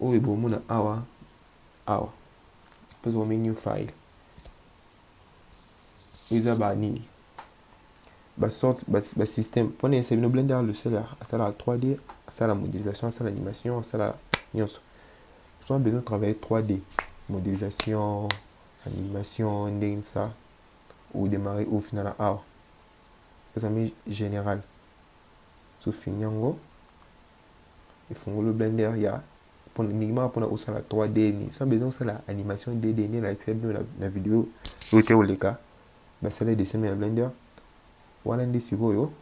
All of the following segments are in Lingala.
oyo bomona awa awa tozomi new file eza ba nini basorte basystème ba mpona yesa bino blender logiciel asalaka 3d asala modélisation asala animation asala nyonso soa besoin travailler 3d modélisation animation ndenge nisa odémarre ofinala awa ezami général sofini yango efungoli blender ya ndingimaka mpona kosala 3d ni sans besoin kosala animation dd nde nalakisa bino na video oyo te koleka basala dessin ya blender wana nde sikoyo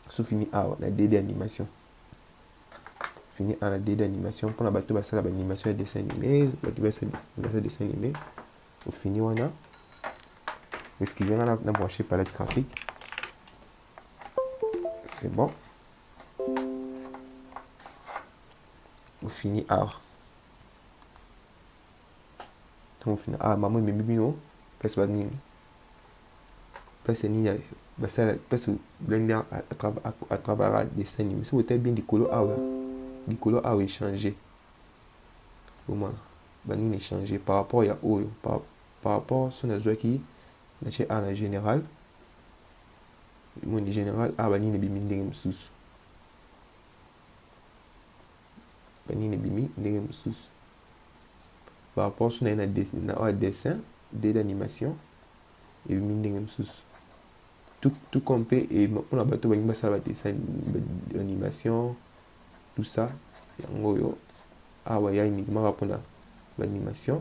so fini awa na dd animation fini awa na dd animation mpona bato basala baanimation ya dessin anime bato basala dessin anime ofini wana excusez nga na branche palette graphique c'est bon ofini awa ntango ofini awa mama ememi bino place banini place nini basala place blende atravara dessin nini soki otali bien likolo awa likolo awa echange bomona banini echange par rapport ya oyo par, par rapport so nazwaki natie awa na général moni general a banini ebimi ndenge mosusu banini ebimi ndenge mosusu par rapport so na ye na oyo dessin de l'animation ebimi ndenge mosusu tout comme mpe mpona bato balingi basala badessin animation tout ça yango oyo awa ya uniquement kaka mpona baanimation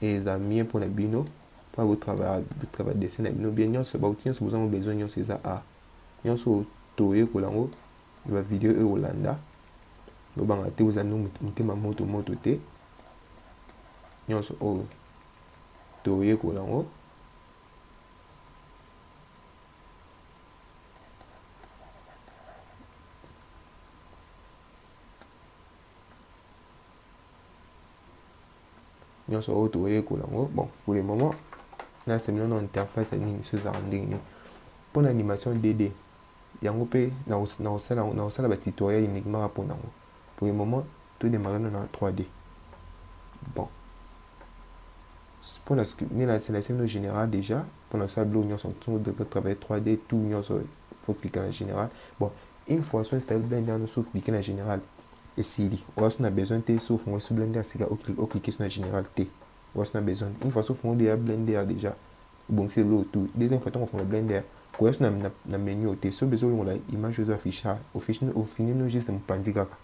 eza mieux pona bino pona botravaille botravaille dessin na bino bien nyonso bauti nyonso bozango besoin nyonso eza a nyonso toyekola yango na bavideo oyo kolanda bobanga te boza no motema moto moto te nyonso oyo toyekola yango nyonso oyo toyekola yango bon pour le moment nasepela na interface ya nini so ezalaka ndenge nini mpo na animation dd yango mpe nakosala batutoriel uniquement mpo na yango pour le moment todemare no na 3d bon mpo na nde nasenasi no général déjà mpo na kosala biloko nyonso ntongo defa travaille 3d tout nyonso faut cliquer na général bon une fois so installe blende yango so cliquer na général esili oya so na besoin te so ofungo so blende ya sika o cliquer so na general te oya so na besoin une fois so ofungo déjà blende ya déjà obongisi lelo tout deuxième fois tango ofungo blende ya koya so na, na, na menu te so besoin olongola image ozo afficha ofini ofini no juste mopanzi kaka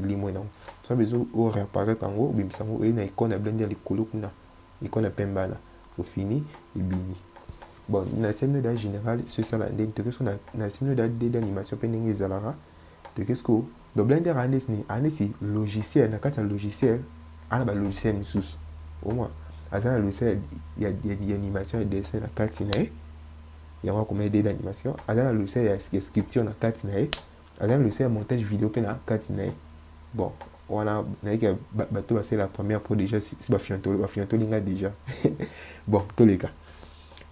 elimwe nango so besoin o réapparaître yango obimisa yango oye na icône ya blende ya likolo kuna icône ya pembana ofini ebimi bon na semi da général so esala ndenge toke so na, na semi da de d'animation pe ndenge ezalaka toke sikoyo donc blender aa neti nini aa neti logiciel na kati ya logiciel aa na balogiciel mosusu omwa aza na logiciel ya, ya, ya animation ya dessin na kati na ye yango akoma ye dede animation aza na logiciel ya, ya sculpture na kati na ye aza na logiciel ya montage video mpe na kati na ye bon wana nayeke bato basala première mpo déjà si bafiantoli bafiantoli nga déjà bon toleka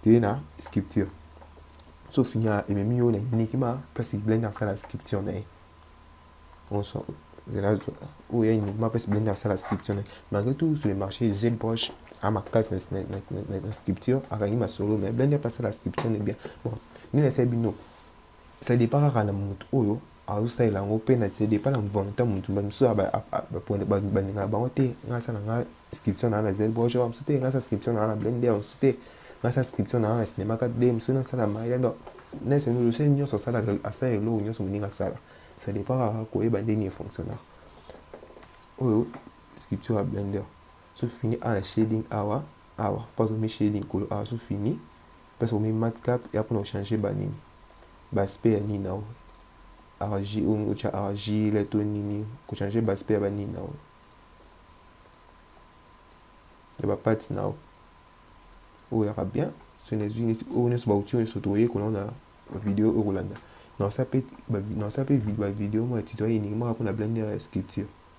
toye na sculpture Sauf nya ememi yo na enigma place blender asala scripture na ye onso zela oyo ya enigma place blender asala scripture na ye malgré tout sur le marché zbroche a makasi na scripture akangi masolo mais blender mpe asala scripture na bien bon nini asali bino ça dépend kaka na moto oyo azosalela yango mpe na depa na volonté ya motu bamosusu balingaka bango te ngai asala ngai inscription naa na zelboge ba mosusu te ngai asala inscription naa na blende ya mosusu te ngai asala inscription naa na cinéma 4d mosusu nasala maya donc naesenose nyonso asala asala eloko nyonso moninga asala ça dépend kaka koyeba ndenge efonctionnaka oyo scripture ya blender so fini awa na shading awa awa mpo azomi shading kolo awa so fini Place okomi madcap eya pona ochange ba nini? Ba aspect ya nini nao argi olingi otia argile to nini kochange ba aspect ya ba nini nao ya ba parts nao oyo yaka bien so nazwi neti oyo nyonso bauti oyo nyonso tokoyekola ngo na video oyo kolanda naosala mpe naosala mpe bavideo moko ya tutoriel eningimaka mpona blender ya sculpture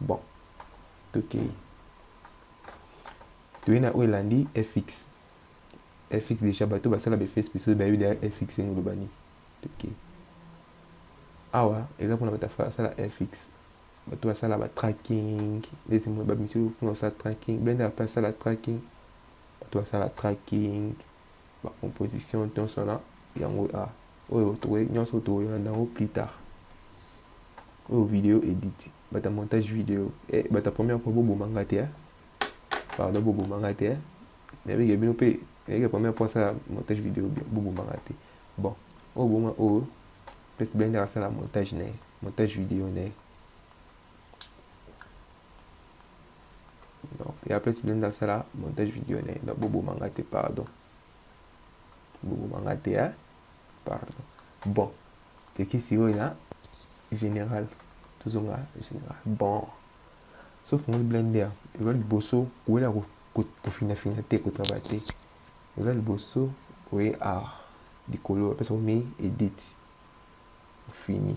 Bon, tokei toyei na oyo elandi fx fx deja bato basala befes episode bayebi deja fx ndenge oloba nini tokei awa eza mpona bato asala fx bato basala batracking ndeti moye bamisi mpona kosala tracking blender mpe asala tracking bato basala tracking ba composition nionso wana yango a oyo tokoki nionso tokolanda yango plus tard oyo video edit bata montage video eh, bata première fois boboma nga te eh? pardon boboma nga te eh? nayebike bino mpe nayebike première fois asala montage video boboma nga te bon oyo bonga oyo peste blender asala montage na ye montage video na ye donc ya place nde ndasala montage video na ye donc boboma nga te pardon boboma nga te hein? pardon bon teke sikoyo na général tozonga général bon so fongoli blender elola liboso kowela kofinafina te kotrava te elola liboso oye awa likolo apesa omi edit ofini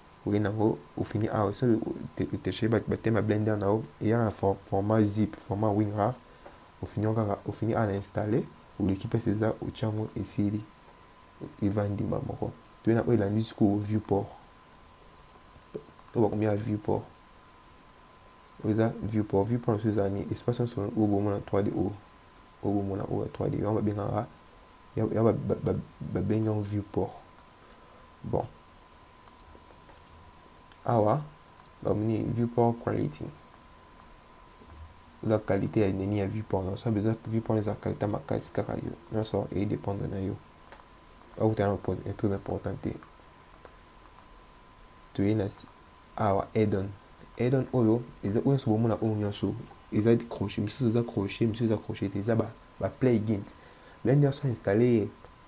okenda yango ofini awa soki oteche batema blender na yo eyaka na format zip format winrar ofini yango kaka ofini awa na installe oleki place eza otya yango esili evandi mbala moko toye na oyo elandi sikoyo view port oyo bakomi ya view port oyo eza view port view port na biso eza nini espace nyonso oyo bomona 3d oyo oyo bomona oyo ya 3d yango babengaka yango babengi yango view port bon awa bamoni viewport quality eza qualité ya nini ya viewport nyonso besoin viewport eza qualité makasi kaka yo nyonso edépendre na yo okutana na épreuve important te toyei na awa edon edon oyo eza oyo nyonso bomona oyo nyonso eza crochet misusu eza crochet misusu eza crochet te eza ba, ba play gint lani nyonso installe ye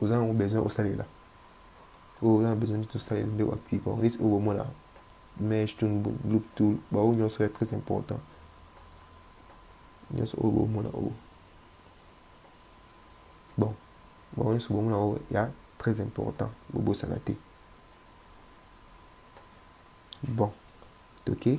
oza nango besoin osalela oyo oza na besoin neti osalela nde oactive yango neti oyo bomona mage to loop tool baoyo nyonso ya très important nyonso oyo bomona oyo bon bango nyonso bomona oyo ya très important bobosana te bon toke okay.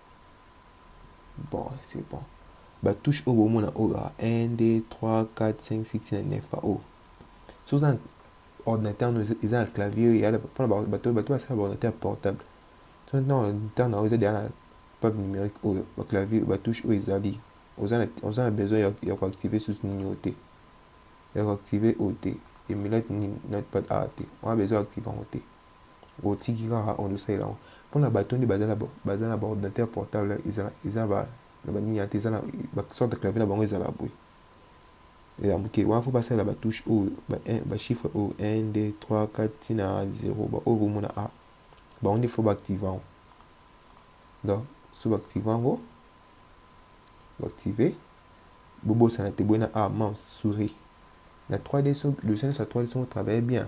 Bon, c'est bon. Ba touche oyo bomona oyo 1 2 3 4 5 6 7 9 ba oyo. So oza ordinateur no eza na clavier ya mpona bato bato basala ba ordinateur portable. So na ordinateur na oyo eza deja na pave numérique oyo ba clavier ba touche oyo ezali. Oza na oza na besoin ya, ya koactive susu nini oyo te. Ya koactive oyo te. Emulate nini notepad awa te. Oza besoin ya active yango te. otiki kaka ondo salela ngo pona bato nde bazala bazala ba ordinateur portable ezala eza ba na ba nini ate ezala ba sorte clavier na bango ezala boye ya muke wana fo basalela ba touche oyo ba ba chiffre oyo 1 2 3 4 tina 0 ba oyo bomona a bango nde fo ba active yango donc so ba active yango ba active bobosana te boyena a mouse souris na 3d so logiciel nyonso ya 3d soki otravaille bien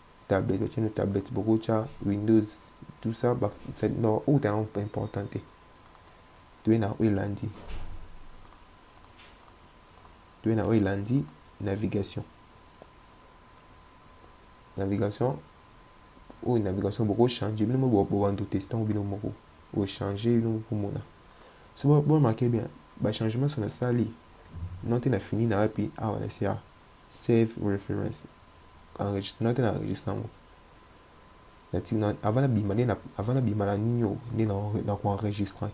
tablette otie no tablette bokotya windows tout ça ba non outa yango mpe important te toye na oyo elandi toye na oyo elandi navigation navigation oyo navigation bokochange bino moko bobanda oteste ntango bino moko ochange bino moko komona so bomake bien bachangement so nasali note na fini na wapi awa na sia Save reference. Enregistraki na registre yango. Avant nabima nde avant nabima na nini oyo nde na ko enregistre.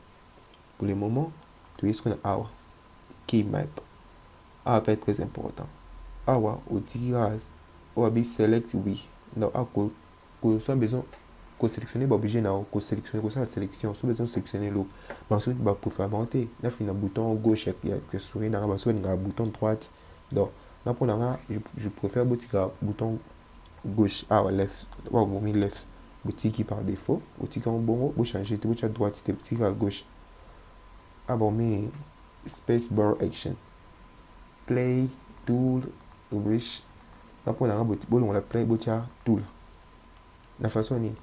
Pour le moment, toyei sikoyo na awa key map. Awa mpe très important. Awa otiki kaka oyo abi select oui. Donc ako kosala besoin koselectionne baobjet na yo koselectionne kosala selection soki eza oselectionne eloko banso baprofama te nafina bouton gauche ya souris nanga banso balingaka bouton droite donc nga mpo na nga je préfère botika bouton gauche awa left oyo bomi left botiki par défaut botiki yango bongo bochange te botya droite te botiki kaka gauche awa bomi space bar action play tool riche nga mpo na nga bolongola play botya tool na façon nini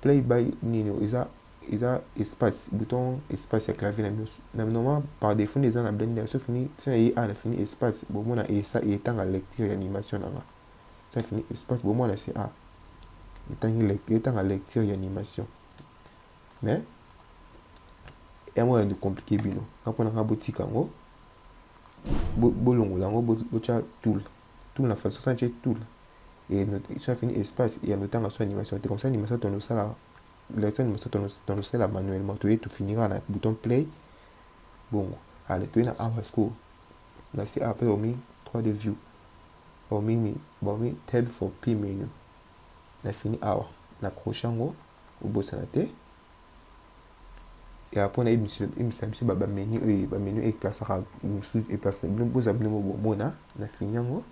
play by nini eza eza espace bouton espace ya clavier na biso na normalement par défaut nde eza na blender sauf ni so na ye a na fini espace bomona esa etanga lecture ya animation na nga so na fini espace bomona se a etangi lecture etanga lecture ya animation mais yango ya compliqué bino nga mpo na nga botika yango bolongola yango botya tool tool na façon santie tool et so na fini espace ya notanga so animation te comme ça animation tonosala la semaine mosusu tonosala manuellement toye tofinira na bouton play bongo ale toye na awa sikoyo na se awa mpe omi 3 de view omini baomi tab for p menu na fini awa na croche yango obosana te ya mpo na ebimisa biso bamenu oyo bamenu eplasaka mosusu eplasa bino boza bino bomona na fini yango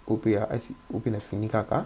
oyo mpe na fini kaka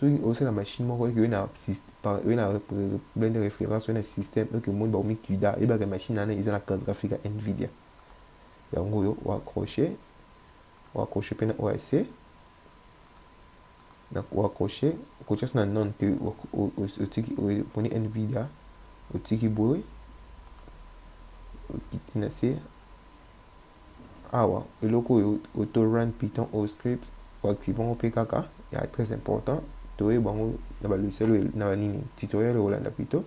soki osi na machine moko eke oye na oye na problème de référence oye na système eke omoni bakomi cuda eyebaka machine wana eza na carte graphique ya nvidia yango oyo oaccroche oaccroche mpe na oyo ase na oaccroche okotya so na non mpe otiki oponi nvidia otiki boye okiti na se awa eloko oyo auto run python au script oactive yango mpe kaka ya très important toyeba yango na balogiciel oyo na banini tutoriel okolanda plutôt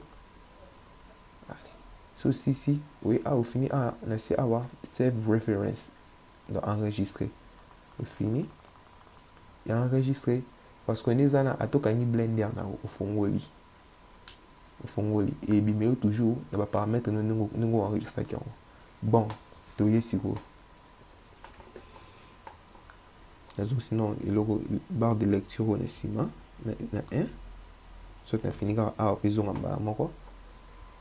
so sisi oye awa ofini awa na se awa save reference donc enregistre ofini ya enregistre parce que nde eza na atokangi blender na ofongoli ofongoli ebima yo toujours na ba parametre no ndenge ndenge enregistraki yango bon toye sikoyo nazo sinon eloko barre de lecture oyo na nsima na 1 soki nafini kaka awa mpe ezonga mbala moko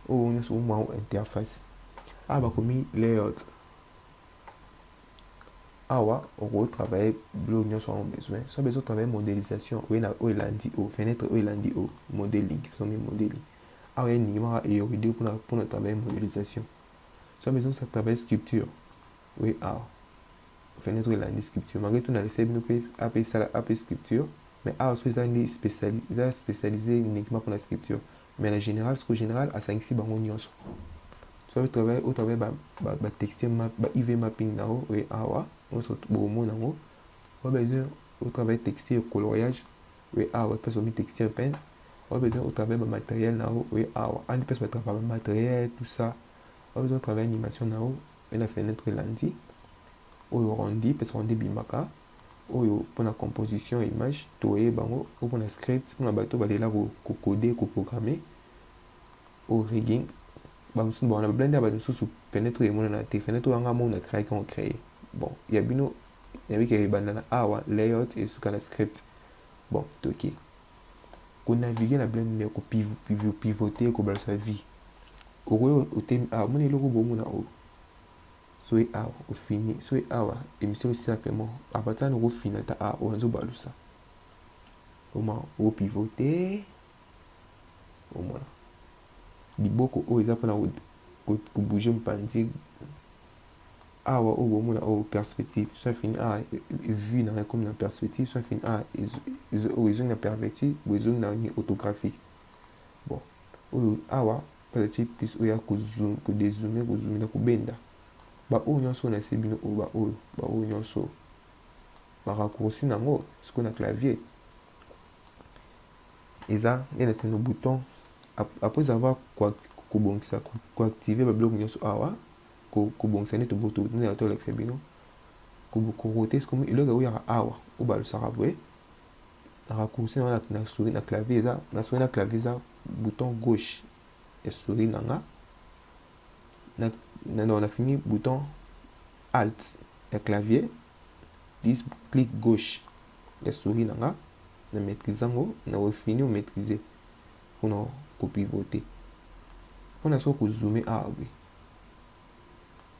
oyo nyonso omwango interface awa bakomi layout awa oko travailler bilo nyonso yango besoin so besoin travailler modélisation oye na oyo elandi o fenêtre oyo elandi o modeling biso mi modeling awa ye ndingi maka eyoride mpona mpona travailler modélisation so besoin sa travailler sculpture oye awa fenêtre elandi sculpture malgré tout na laisse bino mpe ape esala ape sculpture mais awa so ezangi spéciali eza spécialisé uniquement mpona sculpture Mais na general siko general asangisi bango nionso soit au travail au travail ba ba, ba texte map ba UV mapping na o et awa nionso bomona ngo au besoin au travail texte et coloriage et awa pesa mi texte un peine au besoin au travail ba matériel na o et awa andi pesa ba travail ba matériel tout ça au besoin travail animation na o et na fenêtre lundi oyo rondi pesa rondi bimaka oyo pona composition ya image toye bango oyo pona script pona bato balela kokode koprograme oyo rigging bamosusu bawana bablende ya bato mosusu fenetre oyo emonana te fenetre oyo anga mona créaki yango créer bon ya bino yabike ebanda na awa layout esuka na script bon toke konavigue na blende kopivote kobalisa vie okoki otemi awa mona eloko bomona oyo Soki awa ofini, soki awa emission esila vraiment, abaza na kofina ata awa oyo azo balusa. Oma o pivoter. Omona. Liboko oyo eza pona ko bouger mpanzi. Awa oyo bomona oyo perspective, soit fini awa vue na ekomi na perspective, soit fini awa oyo ezongi na perspective, boye ezongi na orthographique. Bon, oyo awa Pale chip plus oya ko zoom ko dezoome ko zoomina ko benda ba oyo nionso na ese bino oyo ba oyo ba oyo nionso ba raccourci na ngo siko na clavier eza nde na sino bouton après avoir kobongisa koactive babiloko nyonso awa kobongisa nde tobototolakisa bino korote soki eloko ekoyaka awa oyo balosaka boye raccourci na na souris na clavier eza na souris na clavier eza bouton gauche ya souris na nga na na na fini bouton alt ya clavier dis clic gauche ya souris na nga na maîtrise yango na ofini o maîtrise mpona kopivote mpona soki kozoome awa boye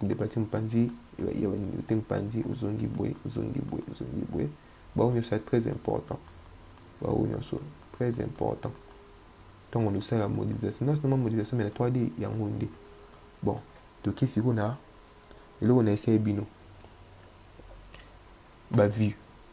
kodepati mopanzi ya baninga te mopanzi ozongi boye ozongi boye ozongi boye bango nyonso ya très important bango nyonso très important ntango losala modisation nyonso noma modisation me na 3d yango nde bon toke sikoyo na eloko na esai bino bavue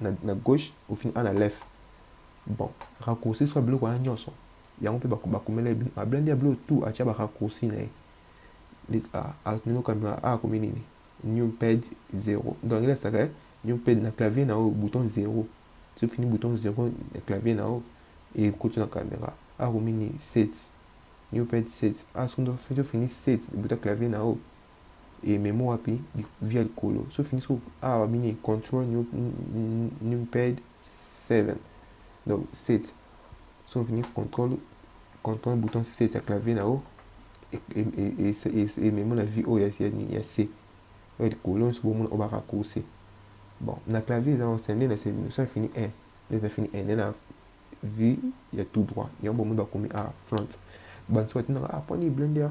na, na gauche ofini a na left bon raccourci soit biloko wana nyonso yango mpe bakomela ye ablandi ya biloko tout atya baraccourci na ye atunelo kamera a akomi nini new pad 0 donc angeli asaka ye new pad na clavier na yo bouton 0 soki fini bouton 0 na clavier na yo ekoti na kamera akomi nini 7 new pad 7 asoki fini 7 bouton clavier na yo e memo wapi via likolo so fini so awa ah, bini control new numpad 7 donc 7 so fini control control bouton 7 ya clavier na yo ememo na vie oyo ya c oyo likolo nyonso bomona oyo baracourse bon na clavier eza ose nde na se bino so fini 1 nde eza fini 1 nde na vie ya tout droit yango bomoni bakomi a ah, front banso batinaka aponi ah, blender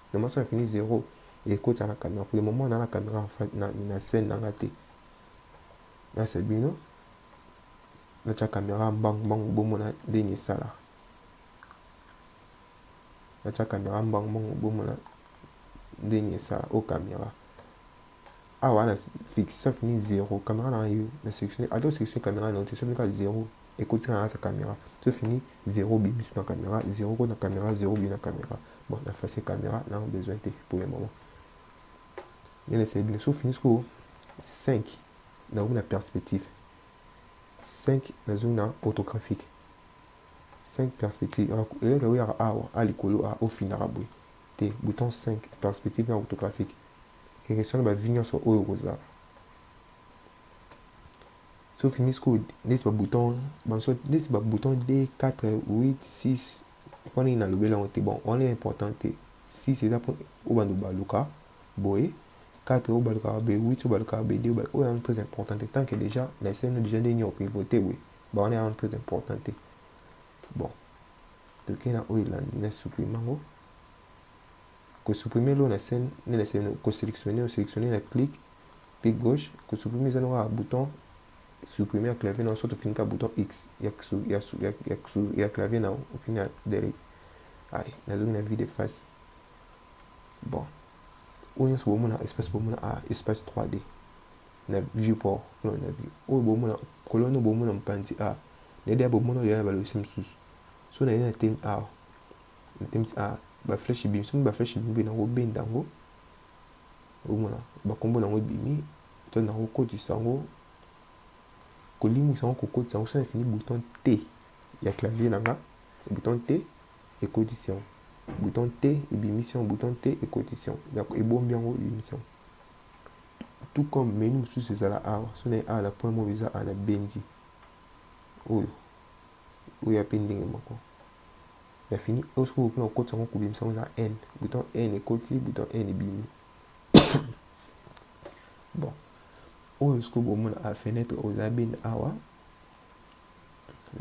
Na maso na fini zero ekota na camera pour le moment na la camera na na scène na nga te. Na c'est bino. Na cha camera mbangu mbangu bomo na dengi sala. Na cha camera mbangu mbangu bomo na dengi sala au camera. awa na fiction fini zero caméra na yo na section ata section caméra na section ka zero ekotika na sa caméra so fini zero bi mis na caméra zero ko na caméra zero bi na caméra bon na face caméra na besoin te pour le moment nene c'est bien so fini ko 5 na na perspective 5 na zo na autographique 5 perspective eleka oyo awa a likolo a ofindaka boye te bouton 5 perspective na autographique Emission na ba vie nyonso oyo okozala. So fini sikoyo neti ba bouton banso neti ba bouton 2 4 8 6 wana nini nalobeli yango te bon wana important te 6 eza mpo oyo bando baluka boye 4 oyo balukaka boye 8 oyo balukaka boye 2 oyo yango très important te tant que déjà na eseno déjà nde nini opivote boye ba wana yango très important te bon tokei na oyo elandi na supprime yango ko supprimer l'eau na scène nde na scène ko selectionner o selectionner na clic clic gauche ko supprimer eza na bouton supprimer ya clavier na soit ofini ka bouton x ya ya ya ya, ya clavier na ofini ya delete allez nazongi na vide face bon oyo nyonso bomona espace bomona a ah, espace 3d na viewport no na view oyo bomona kolona bomona mopanzi a ah, na ede ya bomona oyo ya na balogiciel mosusu so na ye na temi awa ah, Natemisi ah ba flèche ebimi soki ba flèche ebimi boye nako benda yango omona ba kombo nango ebimi to nako kotisa yango kolimwisa yango kokotisa yango soki nafini bouton T ya clavier na nga bouton T ekotisi yango bouton T ebimisi yango bouton T ekotisi yango ebombi yango ebimisi yango tout comme menu mosusu ezala awa soki naye awa na point moko eza awa na bendi oyo oyo ya mpe ndenge moko Ya fini oyo soki okoki na kokotisa yango kobimisa yango na haine bouton haine ekoti bouton haine ebimi bon oyo soki bomona a fenêtre oyo eza beni awa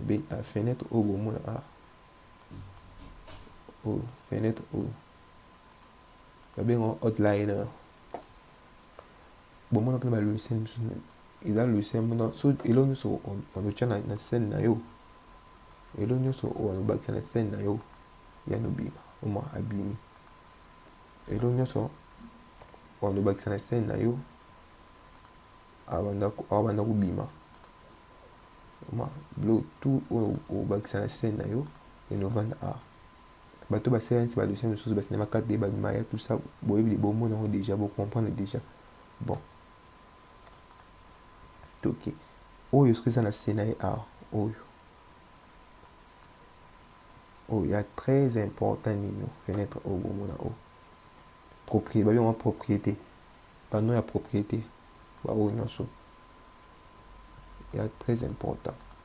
beni a fenêtre oyo bomona a oyo fenêtre oyo babenga outline bomonaka na balogiciel mosusu eza logiciel mona so elo nyonso otya na scène na yo elo nyonso oyo obakisa na scène na yo ya nobima oma abimi elo nyonso oyo obakisa na scène na yo abanda kobima oma bilo tout oyo obakisa na scène na yo enovanda a bato basala neti ba dossier mosusu ba cinema carte de ba maya tout ça boyebi de bomona yango déjà bo comprendre déjà bon toke oyo soki eza na se na ye awa oyo oyo ya très important nino fenêtre oyo bomona oyo propriété babi yango propriété bano ya propriété baoyo nyonso ya très important